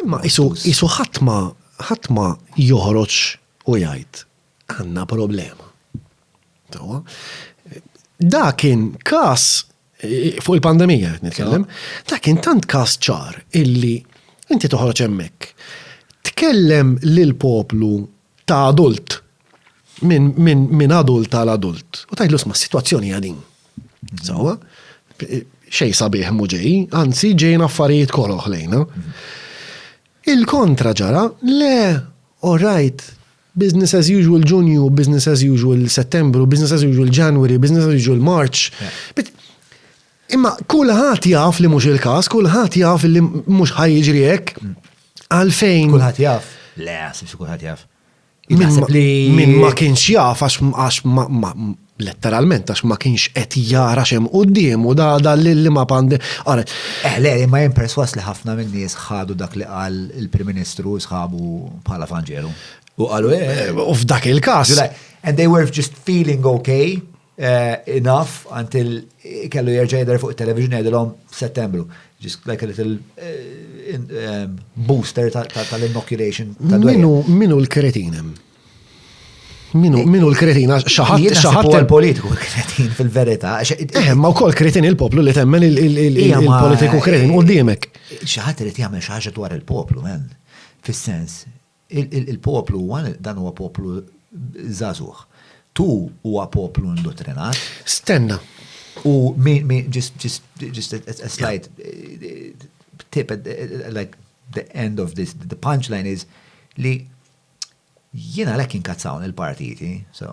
Imma isu ħatma, ħatma joħroġ u jgħid, għanna problema. Tawa, da kien kas eh, fuq il-pandemija, nitkellem, da kien tant kas ċar illi inti toħroġ hemmhekk. Tkellem lil poplu ta' adult, minn adult għal adult, u tajtlu sma situazzjoni għadin. Sawa, xej sabiħ muġej, anzi ġejn affarijiet koroħ lejna. Il-kontra ġara, le, all right, business as usual Ġunju, business as usual Settembru, business as usual January, business as usual March. Imma kulħadd jaf li mhux il-każ, kulħadd jaf li mhux ħa jiġri hekk. Għalfejn. Kulħadd jaf? Le, sibx kulħadd jaf. Min ma kienx jaf għax letteralment għax ma kienx qed jara xem qudiem u da da li ma pandi. Għaret. Eh, le, ma jen perswas li ħafna minn nies ħadu dak li qal il-Prim Ministru sħabu bħala fanġeru. U qalu eh. eh u f'dak il-każ. And they were just feeling okay. enough until kellu jerġa' jidher fuq it-television jgħidilhom f'Settembru. Just like a little booster tal-inoculation ta' dwejja. Minu l-kretin hemm? Minu l-kretin? Xaħat xaħat il-politiku kretin fil-verità. Eh, ma wkoll kretin il-poplu li temmen il-politiku kretin u d-diemek. Xaħat irid jagħmel xi ħaġa dwar il-poplu, men. Fis-sens, Il-poplu huwa, dan huwa poplu żagħżugħ. Tu huwa poplu indottrinat. Stenna. U min, min, just, just, just a, a slight tip, like the end of this, the punchline is li jiena lek inkazzawn il-partiti, so,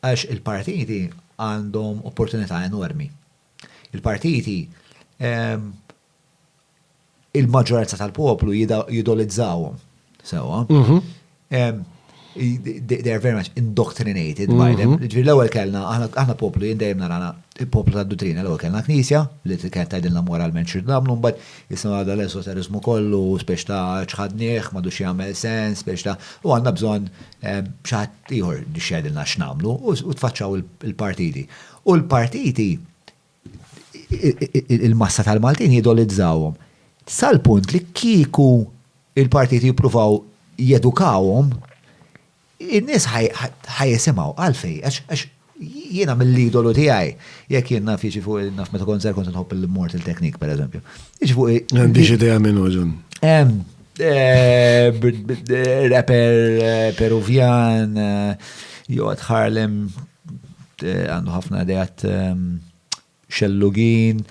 għax il-partiti għandhom opportunità enormi. Il-partiti ehm, il-maġġoranza tal-poplu jidolizzawhom. Sewa. Mhm. They are very much indoctrinated by them. Mhm. Ġifieri l-ewwel kellna aħna poplu jien dejjem narana il-poplu tad-duttrina l-ewwel kellna knisja li kienet tgħidilna moralment xi nagħmlu mbagħad issa għadha l-esoteriżmu kollu spex ta' ċħadnieh m'għadux jagħmel sens spex ta' u għandna bżonn xi ħadd ieħor biex jgħidilna x'nagħmlu u tfaċċaw il-partiti. U l-partiti il-massa tal-Maltin jidolizzawhom. Sal-punt li kieku il-partiti jippruvaw jedukawhom, in-nies ħajjisimgħu għalfej, għax jiena mill-idolu tiegħi, jekk jien naf jiġi fuq naf meta kont żgħir kont nħobb il-Mortal Technique pereżempju. Jiġi fuq. Għandix idea minn użun. Rapper Peruvjan, Jod Harlem, għandu ħafna ideat ehm, xellugin.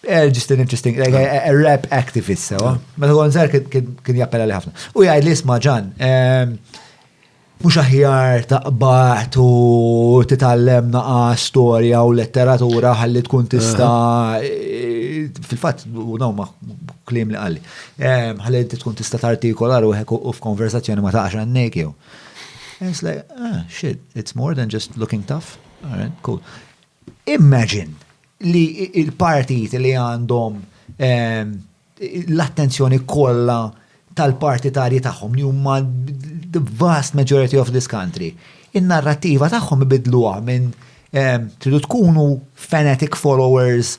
Eh, just an interesting, like a, a rap activist, sewa. Meta għon zer kien jappella li ħafna. U jgħid li isma ġan, ehm, mux aħjar taqbat u titallem naqa storja u letteratura ħalli tkun tista eh, fil-fat u daw ma klim li għalli ehm, ħalli tkun tista tartikolar u u f'konversazzjoni ma taqax għannek jew And it's like, ah, shit, it's more than just looking tough. All right, cool. Imagine li il-partit li għandhom ehm, l-attenzjoni kollha tal-partitarji tagħhom li huma the vast majority of this country. In-narrattiva tagħhom ibidluha minn ehm, tridu tkunu fanatic followers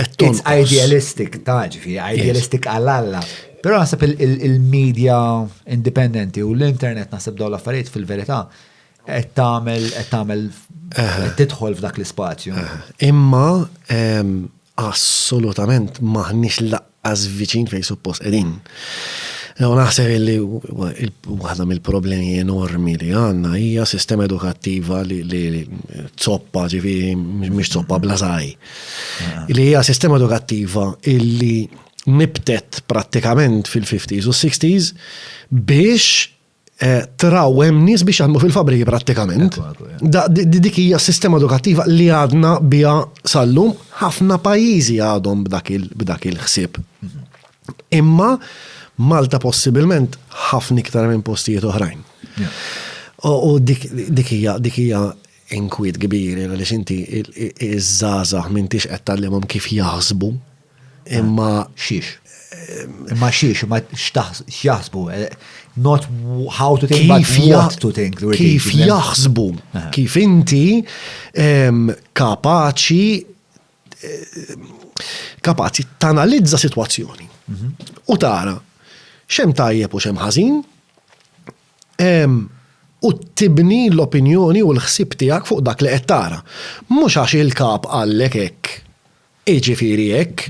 It's idealistic, taġ, fi idealistic għall-alla. Pero nasib il-media indipendenti u l-internet nasib daw l-affarijiet fil-verità qed tagħmel qed tagħmel tidħol f'dak l-ispazju. Imma assolutament maħniex laqqa as viċin fejn suppost qegħdin. U naħseb li waħda mill-problemi enormi li għandna hija sistema edukattiva li zoppa ġifi mhix zoppa bla żgħaj. Ah. Li hija sistema edukattiva illi nibtet prattikament fil-50s u 60s biex Eh, traw hemm nies biex jaħdmu fil-fabriki prattikament. Dik hija sistema edukattiva li għadna biha sallum ħafna pajjiżi għadhom b'dak il-ħsieb. Imma Malta possibilment ħafna iktar minn postijiet oħrajn. U dik hija dik hija inkwiet kbir għaliex inti iż-żgħażagħ m'intix qed tgħallimhom kif jaħsbu Imma xiex? Imma xiex, imma x'jaħsbu? Not how to think, but what to think. Kif jaħsbu? Kif inti kapaċi kapaċi tanalizza situazzjoni mhm. u tara xem tajjeb u xem ħażin u tibni l-opinjoni u l-ħsib tiegħek fuq dak li qed tara. Mhux għax il-kap għallek hekk Jiġifieri hekk,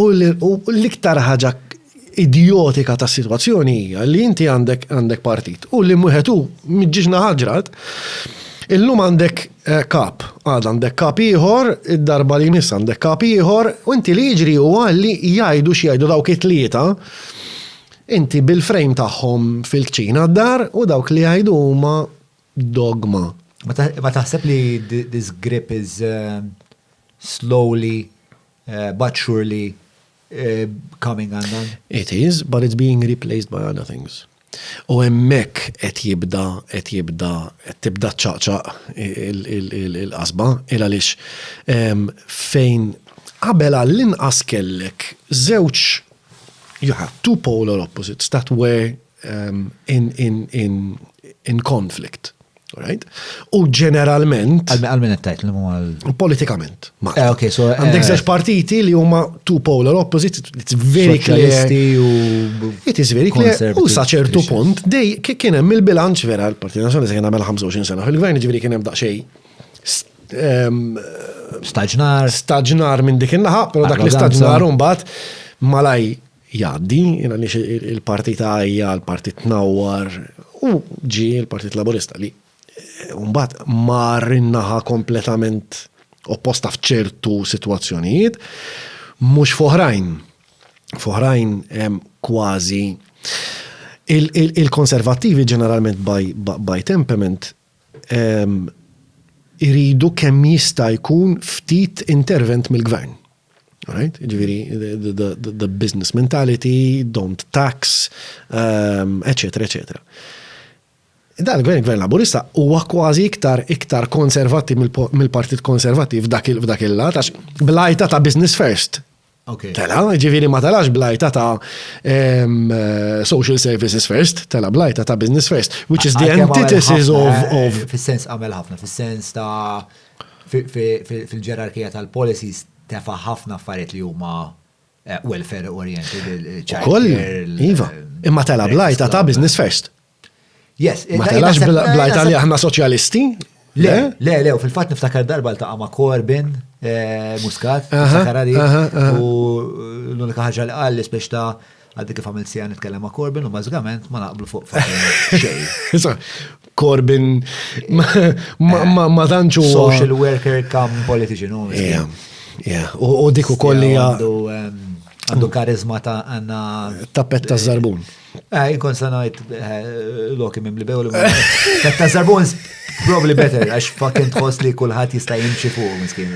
u l-iktar ħaġa idjotika tas-sitwazzjoni hija li inti għandek partit u li wieħed hu miġġiġna ħaġrat, illum għandek kap, għada għandek kap ieħor, id-darba li jmiss għandek kap ieħor, u inti li jiġri huwa li jgħidu x'jgħidu dawk it-tlieta, inti bil-frame tagħhom fil-kċina d-dar u dawk li jgħidu huma dogma. Ma taħseb li this grip is eh, slowly eh, but surely eh, coming undone? It is, but it's being replaced by other things. U hemmhekk qed jibda, qed jibda, qed tibda ċaqċaq il-qasba, il għaliex ehm, fejn qabel għall-inqas kellek żewġ you have two polar opposites that were um, in, in, in, in conflict. Right? U ġeneralment. Għal-min għattajt li għal. Politikament. Eh, ok, so. Eh, Għandek zeċ partiti li huma two polar opposite, it's very clear. It is very clear. U saċertu punt, dej kien hemm il-bilanċ vera l-Partit Nazjonali se kien għamel 25 sena fil-gvern, ġifieri kien hemm daqsxejn ehm, staġnar. Staġnar minn dik in-naħa, però dak l-istaġnar mbagħad malaj jgħaddi, jien għaliex il-parti tagħja, l-parti tnawwar, u ġie l-Partit Laburista li mbagħad mar in-naħa kompletament opposta f'ċertu sitwazzjonijiet, mhux f'oħrajn. F'oħrajn kważi il-konservattivi ġeneralment by temperament iridu kemm jista' jkun ftit intervent mill-gvern. Alright? Ġifieri the business mentality, don't tax, eċetera, eċetera. Dan il-gvern, il-gvern laburista, huwa kważi iktar iktar konservati mill-Partit Konservativ f'dak il-lat, għax blajta ta' business first. Tela, ġifiri ma telax blajta ta' social services first, tela blajta ta' business first, which is the antithesis of. Eh, fis-sens għamel ħafna, fis-sens ta' fil-ġerarkija tal-policies tefa ħafna affarijiet li huma eh, welfare oriented, il-ċajr. Iva, eh, imma tela blajta ta' business first. Yes. Ma telax bl-Italja ħna soċjalisti? Le, le, le, fil-fat niftakar darba l-taqa ma' Corbin, eh, Muscat, Sakarari, u l-unika ħagġa li għalli spiex ta' għaddi kif għamil sija nitkellem ma' Corbin u mażgament ma naqblu fuq xejn. Corbin ma danċu. Social worker kam politician. U dik u kolli għandu karizma ta' għanna. Tappet ta' zarbun. Eh, ikon sanajt eh, loki mim li bew li Ta' zarbons, probably better, għax fucking tħoss li kullħat jista' jimxi fuq, miskin.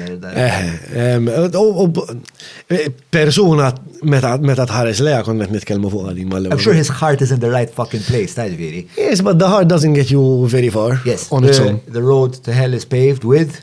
Eh, persuna meta tħares leja kon qed nitkellmu fuq għadim mal I'm sure his heart is in the right fucking place, ta' ġviri. Yes, but the heart doesn't get you very far. Yes, on its own. The road to hell is paved with